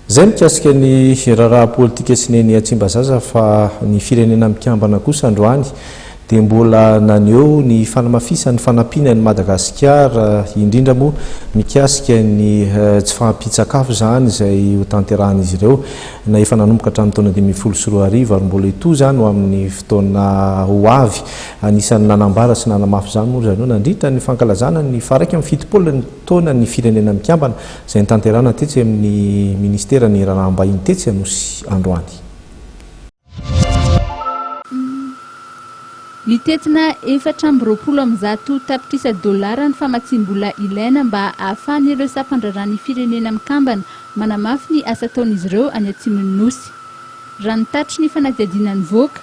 Izay mikasika ny raharaha politika sy ny eny Tsimbazaza fa ny Firenena Mikambana kosa androany dia mbola naneho ny fanamafisany ny fanampiana an'i Madagasikara indrindra moa mikasika ny tsy fahampian-tsakafo izany izay hotanterahan'izy ireo na efa nanomboka hatramin'ny taona dimy ambin'ny folo sy roa arivo ary mbola hitohy izany ho amin'ny fotoana ho avy. Anisan'ny nanambara sy nanamafy izany moa ry zareo nandritra ny fankalazana ny faha iraika amby fitopolo taona ny Firenena Mikambana, izay notanterahana tetsy amin'ny Ministeran'ny Raharaham-bahiny tetsy Anosy androany. Mitentina efatra amby roapolo amby zato tapitrisa dolara ny famatsiam-bola ilaina mba hahafahan'ireo sampan-draharahan'ny Firenena Mikambana manamafy ny asa ataon'izy ireo any atsimon'ny Nosy. Raha ny tatitry ny fanadihadiana nivoaka,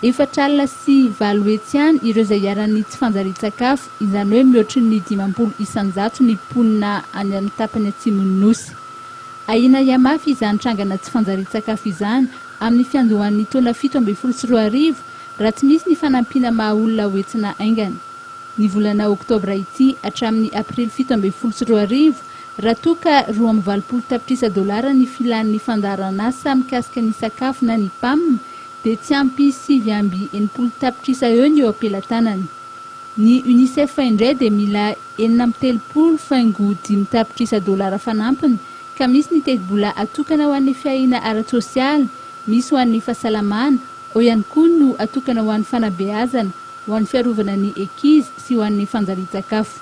Efatra alina sy valo hetsy ihany ireo izay iharan'ny tsy fanjarian-tsakafo, izany hoe mihoatry ny dimampolo isan-jato ny mponina any amin'ny tapany atsimon'ny Nosy. Ahiana hihamafy izany trangana tsy fanjarian-tsakafo izany amin'ny fiandohan'ny taona fito ambin'ny folo sy roa arivo raha tsy misy ny fanampiana maha olona ho hetsina haingana ny volana oktobra ity hatramin'ny aprily fito ambin'ny folo sy roa arivo raha toa ka roa amby valopolo tapitrisa dolara ny filan'ny fandaharan'asa mikasika ny sakafo na ny pam dia tsy ampy sivy amby enimpolo tapitrisa eo ny eo am-pelatanany. Ny Unicef indray dia mila enina amby telopolo faingo dimy tapitrisa dolara fanampiny, ka misy ny tetibola atokana ho an'ny fiahiana ara-tsosialy, misy ho an'ny fahasalamana, ao ihany koa no atokana ho an'ny fanabeazana, ho an'ny fiarovana ny ankizy sy ho an'ny fanjarian-tsakafo.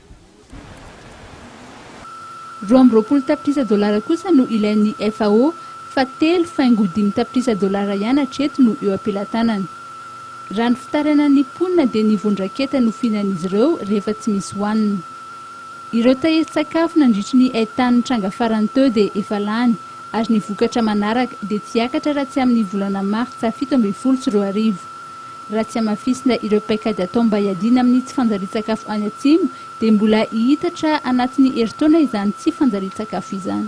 Roa amby roapolo tapitrisa dolara kosa no ilain'ny FAO fa telo faingo dimy tapitrisa dolara ihany hatreto no eo am-pelatanana. Raha ny fitaranan'ny mponina dia ny vondraketa no fihinan'izy ireo rehefa tsy misy hohanina. Ireo tahirin-tsakafo nandritry ny haitany nitranga farany teo dia efa lany ary ny vokatra manaraka dia tsy hiakatra raha tsy amin'ny volana martsa fito ambin'ny folo sy roa arivo. Raha tsy hamafisina ireo paikady atao mba hiadiana amin'ny tsy fanjarian-tsakafo any Atsimo dia mbola hihitatra anatin'ny herintaona izany tsy fanjarian-tsakafo izany.